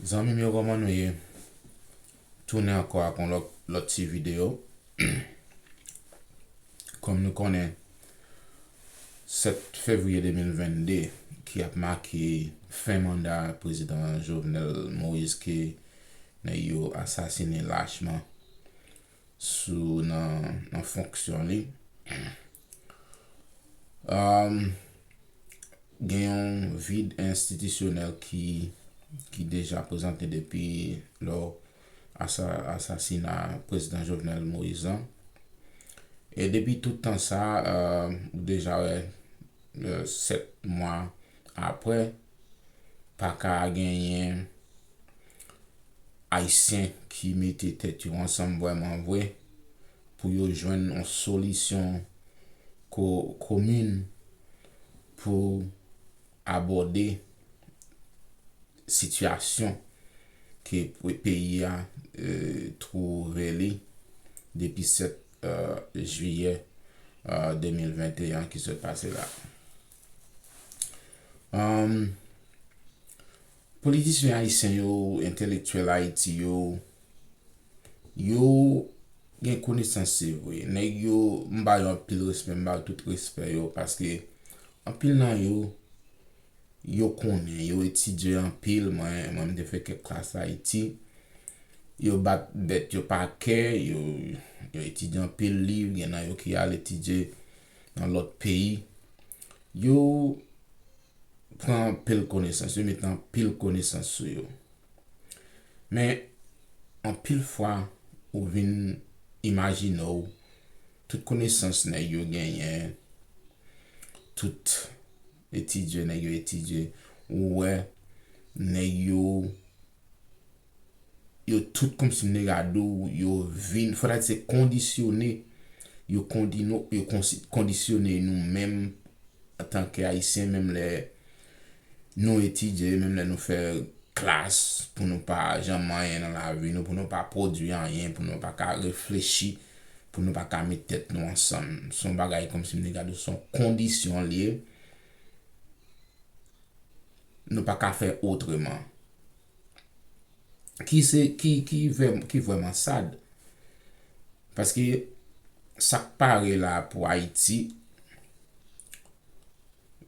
Zanmim yo koman nou ye tounen ankò ak yon lòt ti video kòm nou konnen 7 fevriye 2022 ki ap make fen manda prezidan Jovenel Moïse ke nèg yo asasine lachman sou nan fonksyon li. Gen yon vid enstitisyonèl ki deja prezante depi lò asasina prezidan Jovenel Moïse lan. E depi tout tan sa, ou deja wè, 7 mwa apre, pa ka genyen Ayisyen ki mete tèt yo ansanm vrèman vre pou yo jwenn yon solisyon komin pou abòde sitiyasyon ke peyi a twouve li depi 7 mwa. jiyè 2021 ki sot pase la. Politisyen ayisyen yo, entelektyèl Ayiti yo, yo gen konesans se vre. Nèg yo, m ba yo anpil respè, m ba yo tout respè yo paske anpil nan yo yo konnen, yo etidye anpil, mwen menm m te fè kèk klas Ayiti, yo bat bèt yo pa kè, yo etidye anpil liv, gen nan yo ki al etidye nan lòt peyi, yo pran anpil konesans, yo mete anpil konesans sou yo. Men, anpil fwa, ou vin imajine w, tout konesans nèg yo genyen, tout. Etidye nèg yo etidye ou wè nèg yo yo tout kòmsi nèg a di w yo vin fò ta di se kondisyone yo kondino yo kondisyone nou menm antanke ayisyen menm lè nou etidye menm lè nou fè klas pou nou pa janm anyen nan lavi nou pou nou pa pwodui anyen pou nou pa ka reflechi pou nou pa ka met tèt nou ansanm. Se yon bagay kòmsi m te gade l, se yon kondisyon l ye. Nou pa ka fè otreman. Ki se, ki, ki vèm, ki vwèman sad. Paske, sa k pare la pou Ayiti,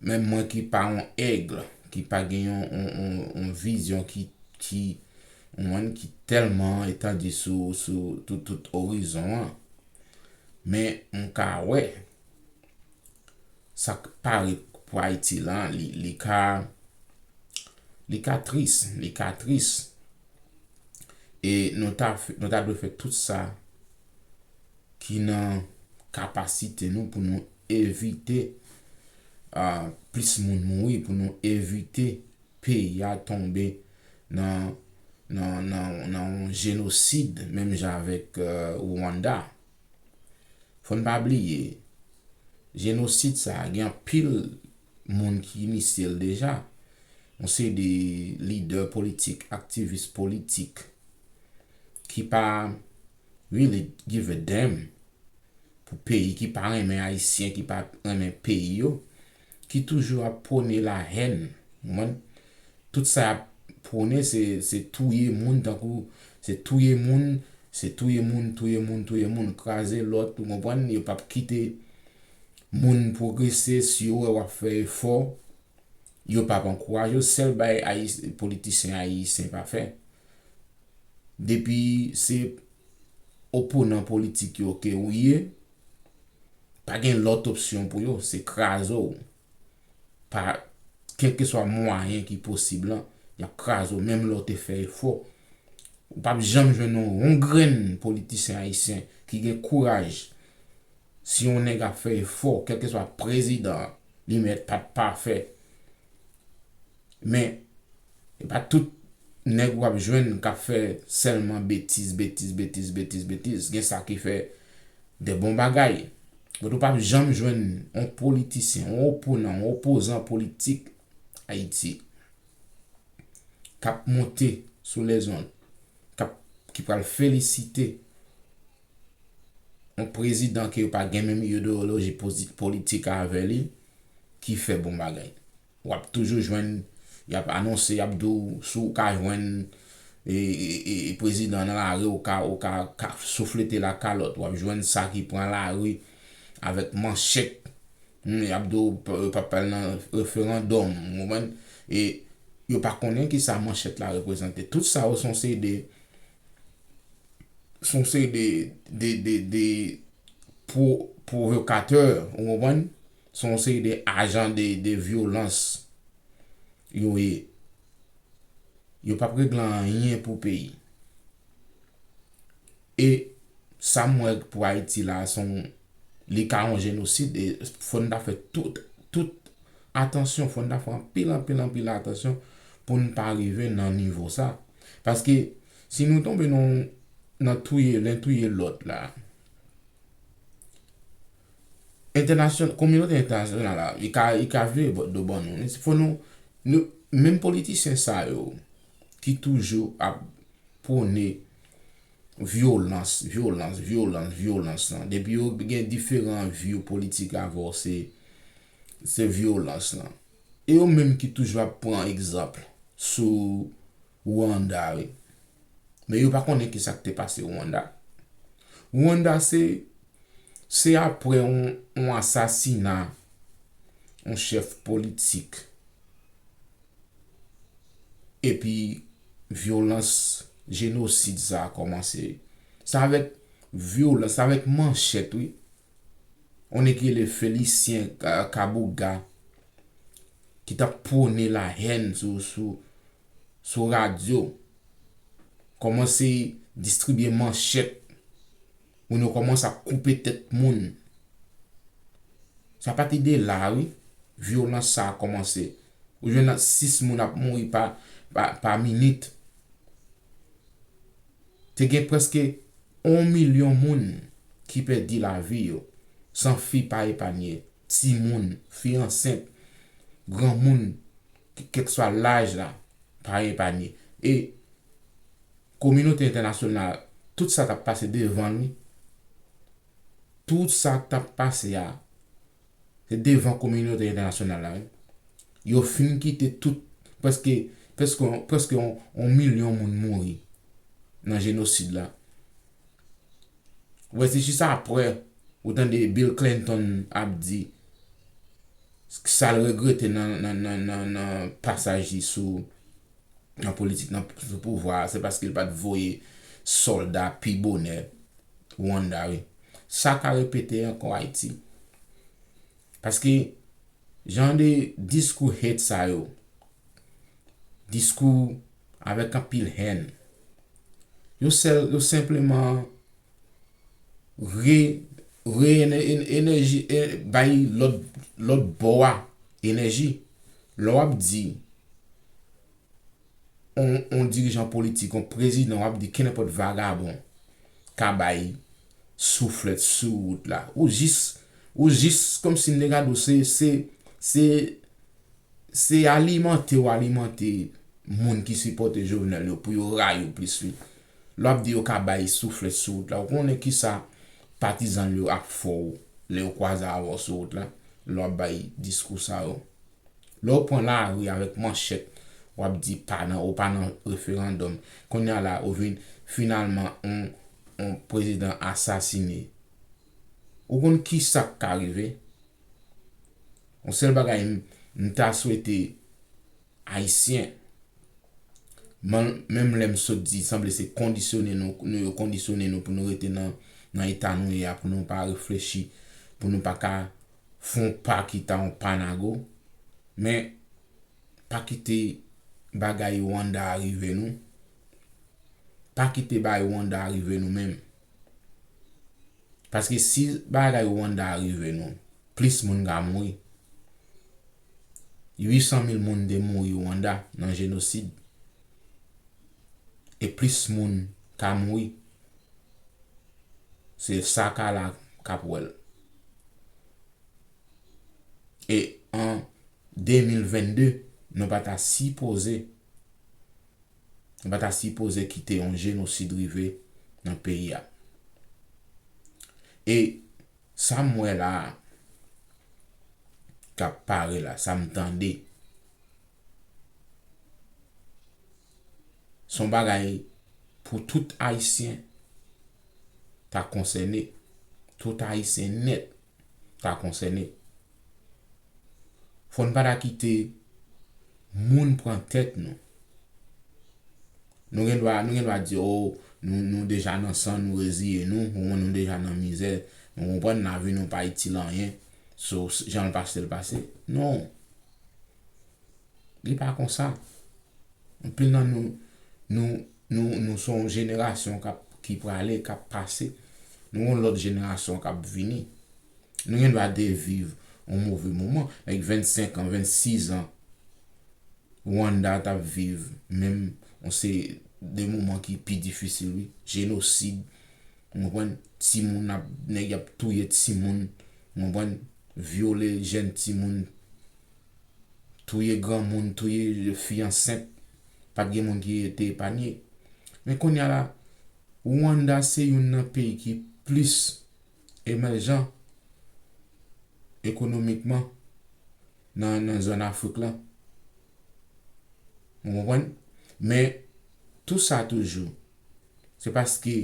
menm mwen ki pa yon aigle, ki pa gen yon, yon, yon vizyon ki, ki, On mòn ki tèlman etandi sou tout tout orizon an. Men m ka wè sa k pare pou Ayiti lan li ka li ka tris, li ka tris. E nou ta nou ta dwe fè tout sa ki nan kapasite nou pou nou evite plis moun mouri, pou nou evite. peyi a tonbe nan nan nan nan yon jenosid menm jan avèk Rwanda. Fò n pa bliye, jenosid sa a gen anpil moun ki inisye l deja. Yon seri de lidè politik, aktivis politik ki pa really give a damn pou peyi, ki pa renmen Ayisyen, ki pa renmen peyi yo. ki toujou ap pwone la hèn konprann tout sa yap pwone se se touye moun tankou se touye moun se touye moun touye moun touye moun kraze lòt ou konprann yo pap kite moun pwogrese si yo wè wap fè efò yo pap ankouraje w sèl bagay ayis politisyen ayisyen pa fè depi se oponan politik yo ke ou ye Pa gen lòt opsyon pou yo, se kraze w. Pa kèlkeswa mwayen ki posib lan, y ap kraze w menm lè w te fè efò. Ou p ap janm jwenn yon yon grenn politisyen ayisyen ki gen kouraj, si yon nèg ap fè efò, kèlkeswa prezidan an, li mèt pa t pafè. Men, e pa tout nèg w ap jwenn k ap fè sèlman betiz, betiz, betiz, betiz, betiz. Gen sa ki fè de bon bagay. Bòt ou pap janm jwenn yon politisyen, yon oponan, yon opozan politik Ayiti k ap monte sou lèzond, k ap, ki pral felisite yon prezidan ke yo pa gen menm ideyoloji politik avè li, ki fè bon bagay. Wap toujou jwenn yap anonse yap di w si w ka jwenn prezidan nan lari ou ka ou ka souflete l ak kalòt wap jwenn sa ki pran lari avèk manchèt humm yap di w yo pap al nan referandòm ou konprann e yo pa konnen kisa manchèt la reprezante tout sa yo son seri de son seri de de de de pwovokatè ou konprann Se yon seri de ajan de vyolans yo ye. Yo pap regle anyen pou peyi. E sa m wè pou Ayiti la se yon, li ka yon jenosid e fò n ta fè tout, tout atansyon, fò n ta fè anpil, anpil, anpil atansyon pou n pa rive nan nivo sa. Paske si nou tonbe nan touye len touye lòt la. entènasyon kominote entènasyonal la li ka li ka vire bò do ban nou wi se fò nou nou menm politisyen sa yo ki toujou ap pwone vyolans vyolans vyolans vyolans lan depi yo gen diferan view politik avè w se se vyolans lan e yo menm ki toujou ap pran egzanp sou Rwanda wi. Men yo pa konnen ki sa k te pase Rwanda. Rwanda se se apre yon asasina yon chèf politik epi vyolans jenosid sa a kòmanse. Se avèk vyolans, se avèk manchèt wi. Yon nèg ki rele Felisyen Kabouga ki t ap pwone lahèn sou sou. sou radyo, kòmanse distribye manchèt, moun yo kòmanse ap koupe tèt moun. Sa pati de la wi, vyolans sa kòmanse. Ou jwenn 6 moun ap mouri pa minit. Te gen prèske 1 milyon moun ki pèdi lavi yo, san fi pa epanye, ti moun, fi ansent, gran moun. kèlkeswa laj la, pa epanye. E kominote entènasyonal, tout sa k ap pase devan li, tout sa k ap pase a, se devan kominote entènasyonal la wi. Yo fin kite tout, prèske, prèske yon milyon moun mouri nan jenosid la. Ou wè se jis aprè ou tande Bill Clinton ap di, sa l regrete nan pasaj li sou nan politik nan sou pouvwa a se paske l pa t voye sòlda pi bonè Rwanda wi sa ka repete ankò Ayiti paske jan de diskou hate sa yo diskou avèk anpil hèn yo sèl yo senpleman Re, re ene, ene, enèji, e, bay lòt, lòt bò a enèji. Lè w ap di on, on dirijan politik, on prezidan, w ap di kenenpòt vagabon ka bay souflèt sou wout la. Ou jis, ou jis kòmsi m te gade w se, se, se, se alimante w alimante moun ki sipòte Jovenel yo pou yo rayi w plis wi. Lè w ap di yo ka bay souflèt sou wout la, ou konnen ki sa patizan l yo ap fè w lè yo kwaze avè w sou wout la, lè w ap bay diskou sa yo? Lè w pran lari avèk manchèt, w ap di pa nan ou pa nan referandòm, kounye a la ou vin finalman yon prezidan asasine. Ou konn ki sa k ka rive? Yon sèl bagay m ta swete Ayisyen. M'en menm lè m sot di sanble se kondisyone nou nou yo kondisyone nou pou nou rete nan nan eta nou ye a pou nou pa reflechi pou nou pa ka fon pa ki ta yon pa nago men pa kite bagay Rwanda a rive nou pa kite bay Rwanda a rive nou menm. Paske si bagay Rwanda a rive nou, plis moun ka mouri. 800 mil moun te mouri Rwanda nan jenosid. E plis moun ka mouri. Se sa ka la kap wè l. E an 2022, nou pa ta sipoze. Nou pa ta sipoze kite yon jenosid rive nan peyi a. E sa m wè la a k ap pare la, sa m tande, se yon bagay pou tout Ayisyen ta konsène, tout Ayisyen nèt. ta konsène. Fò n pa ta kite moun pran tèt nou. Nou gen dwa nou gen dwa di o nou deja nan san nou reziye nou, o nou deja nan mizè, nou konprann lavi nou pa itil anyen, so jan l pase l pase. Non! Li pa konsa. Anpil nan nou, nou Nou se yon jenerasyon ki prale, k ap pase. Nou gen yon lòt jenerasyon k ap vini. Nou gen dwa te viv yon move moman. Like 25 an, 26 an, Rwanda t ap viv menm yon se de moman ki pi difisil wi. Jenosid, ou konprann, timoun ap, nèg y ap touye timoun, ou konprann, vyole jèn timoun. touye granmoun, touye fi ansent, pat gen moun ki te epanye. Men kounya la, Rwanda se youn nan peyi ki plis emèjan ekonomikman nan zòn Afrik lan. Ou konprann? Men, tou sa toujou, se paske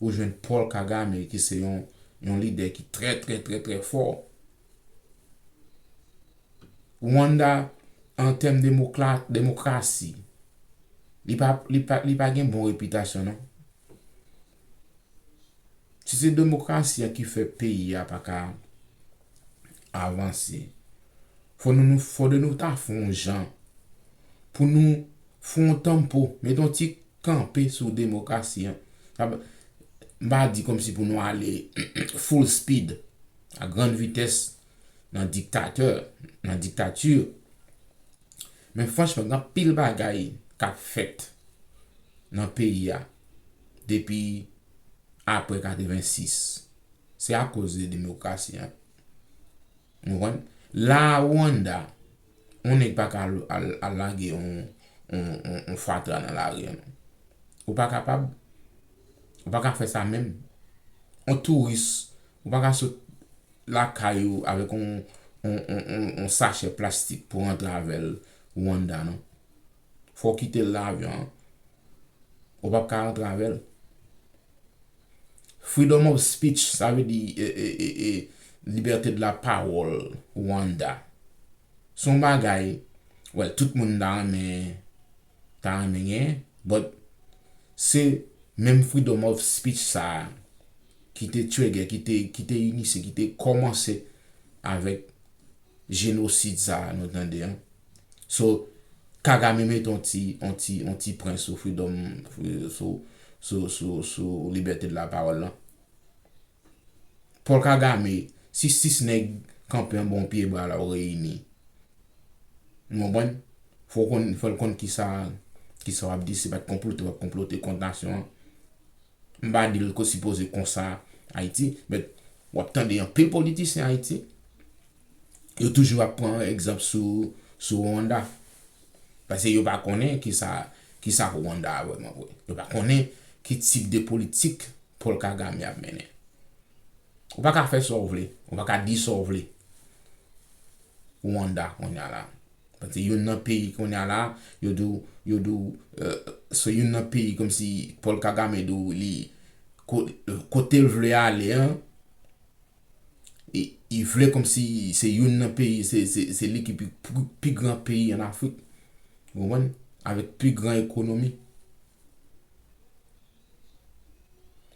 ou jwenn Paul Kagame ki se yon yon lidè ki trè trè trè trè fò. Rwanda an tèm demokla demokrasi li pa li pa li pa gen bon repitasyon non. Si se demokrasi a ki fè peyi a pa ka avanse fò nou nou fò de nou ta fon jan pou nou fon tanmpo met yon ti kanpe sou demokrasi an. M pa di kòmsi pou nou ale full speed, a grande vitesse, nan diktatè, nan diktati. Men franchman, gen anpil bagay k ap fèt nan peyi a depi apre 86. Se akoz de demokrasi an. Ou konprann? La Rwanda. Yon nèg pa ka al lage yon fatra nan lari an non. Ou pa kapab. Ou pa ka fè sa menm. Yon touris, ou pa ka sot lakay ou avèk yon sachè plastik pou rantre avè l Rwanda non. Fò w kite l nan avyon an. Ou pap ka rantre avèl. Freedom of speech sa vle di libète de la pawòl Rwanda. Son bagay wè tout moun ta renmen ta renmen gen but se menm freedom of speech sa ki te trigger ki te inisye ki te kòmanse avèk Jenosid sa a nou tande an. So Kagame mete yon ti yon ti yon ti pwen sou freedom sou sou sou sou libète de la pawòl lan. Paul Kagame si 6 nèg kanpe anba yon pye bwa la yo reyini. Nou konprann? Fò w konn fò l konn kisa kisa w ap di se pa t konplote w ap konplote kont nasyon an. M pa di l ko sipoze konsa Ayiti, but w ap tande anpil politisyen Ayiti, yo toujou ap pran egzanp sou Rwanda. Pase yo pa konnen kisa kisa Rwanda a vrèman vre. Yo pa konnen ki tip de politik Paul Kagame ap mennen. Ou pa ka fè sa w vle, ou pa ka di sa w vle Rwanda kounya la. Paske youn nan peyi kounye a la, yo di w, yo di w, se youn nan peyi kòmsi Paul Kagame di w li, kote l vle ale an, li vle kòmsi se youn nan peyi, se li ki pi gran peyi an Afrik. Ou konprann? Avèk pi gran ekonomi.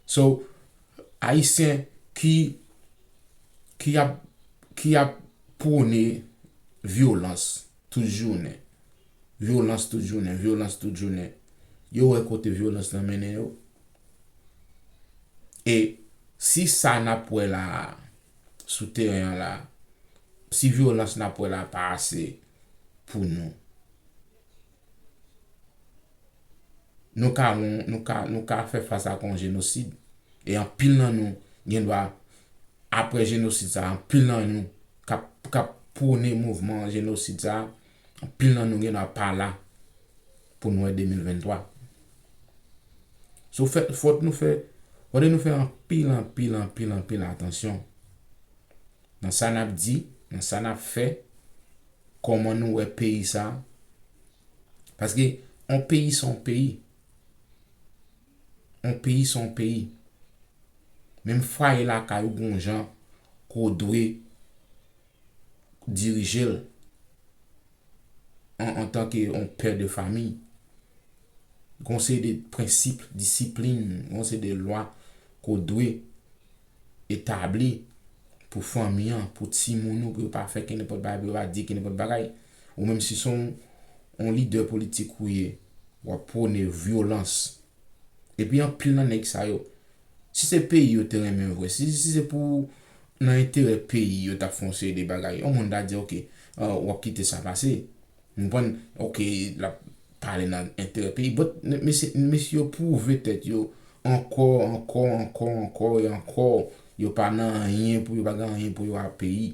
So ayisyen ki ki ap ki ap pwone vyolans tout jounen, vyolans tout jounen, vyolans tout jounen, yo wè kote vyolans lan mennen yo? E si sa n ap wè la a, sou teren an la a, si vyolans n ap wè la a pa ase pou nou, Nou ka won, nou ka, nou ka fè fas ak yon jenosid. E anpil nan nou gen dwa, apre jenosid sa a, anpil nan nou k ap, k ap pwone mouvman jenosid sa a, anpil nan nou gen dwa pa la pou nou wè 2023. So fè, fòk nou fè, fòde nou fè anpil, anpil, anpil, anpil atansyon nan sa n ap di, nan sa n ap fè, Koman nou wè peyi sa? Paske on peyi se on peyi. On peyi se on peyi. Menm fwaye lakay ou gon jan ke w dwe dirije l an antan ke on pè de famiy. Gon seri de prensip, disiplin, gon seri de lwa ke w dwe. etabli pou fanmi an, pou timoun ou pou yo pa fè kenenpòt bagay, pou yo pa di kenenpòt bagay. Ou menm si son on lidè politik ou ye, w ap pwone vyolans. Epi anpil nan nèg sa yo, si se peyi yo te renmen vre, si se pou nan enterè peyi yo t ap fè yon seri de bagay, yon moun ta di ok, w ap kite sa pase. M konprann ok lap pale nan enterè peyi but mesye mesye yo pwouve tèt yo ankò ankò ankò ankò e ankò yo pa nan anyen pou yo pa gen anyen pou yo a peyi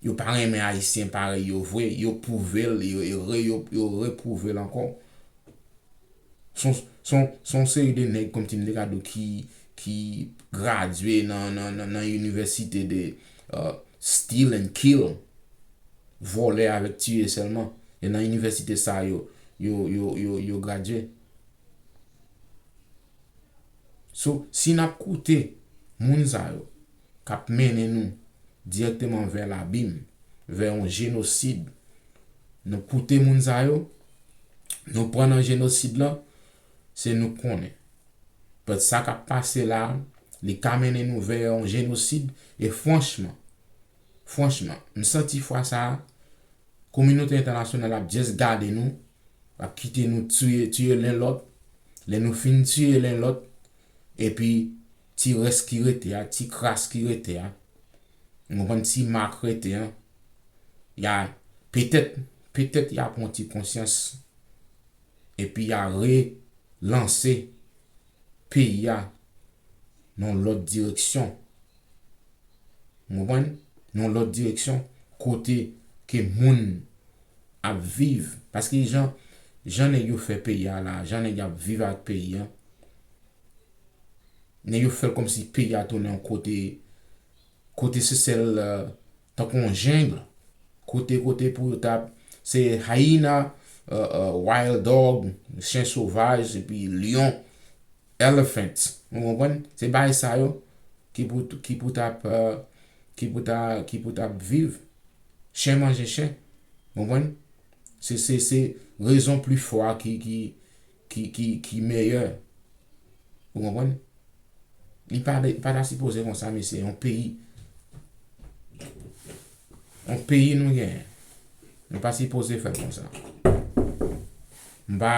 yo pa renmen ayisyen parèy yo vre yo pwouve l yo re yo re pwouve l ankò son son son seri de nèg kòmsi m te ka di w ki ki gradye nan nan nan inivèsite de Steal and kill, vòlè avèk tiye sèlman. E nan inivèsite sa yo, yo gradye. So, si n ap koute moun sa yo, k ap mennen nou dirèkteman vè labim, vè yon jenosid, nou koute moun sa yo, nou pran nan jenosid lan, se nou k konnen. Pèt sa k ap pase la, li ka mennen nou vè yon jenosid e franchman, franchman, m santi fwa sa a, kominote entènasyonal ap just gade nou, l ap kite nou tiye, tiye len lòt, lè nou fin tiye len lòt, epi ti rès ki rete a, ti kras ki rete a, nou konprann, ti mak rete an, y a, petèt, petèt y a pran ti konsyans. epi ya re lanse peyi a nan yon lòt direksyon ou konprann nan yon lòt direksyon kote ke moun ap viv paske jan jan nèg yo fè peyi a la jan nèg yo ap viv avèk peyi an nèg yo fèl kòmsi peyi a tounen yon kote kote se sèl Tankou yon jeng kote kote pou yo tap se hyena wild dog chen sovaj epi lion elephants nou konprann se bay sa yo ki pou ki pou tap ki pou ta ki pou tap viv chen manje chen konprann se se se rezon pli fò a ki ki ki meyè ou konprann li pa ta sipoze konsa mesye yon peyi yon peyi nou genyen nou pa sipoze fèl konsa m pa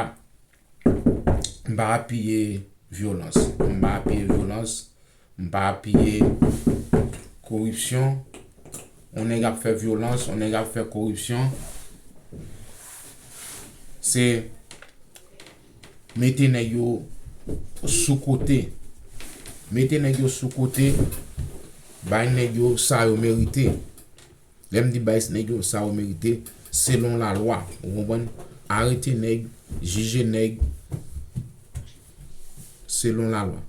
m pa apiye vyolans m pa apiye vyolans M pa apiye koripsyon. On nèg ap fè vyolans, on nèg ap fè koripsyon. Se mete nèg yo sou kote. Mete nèg yo sou kote, bay nèg yo sa yo merite. Lè m di bay nèg yo sa yo merite, selon la lwa. Ou konprann? Arete nèg, jije nèg selon la lwa.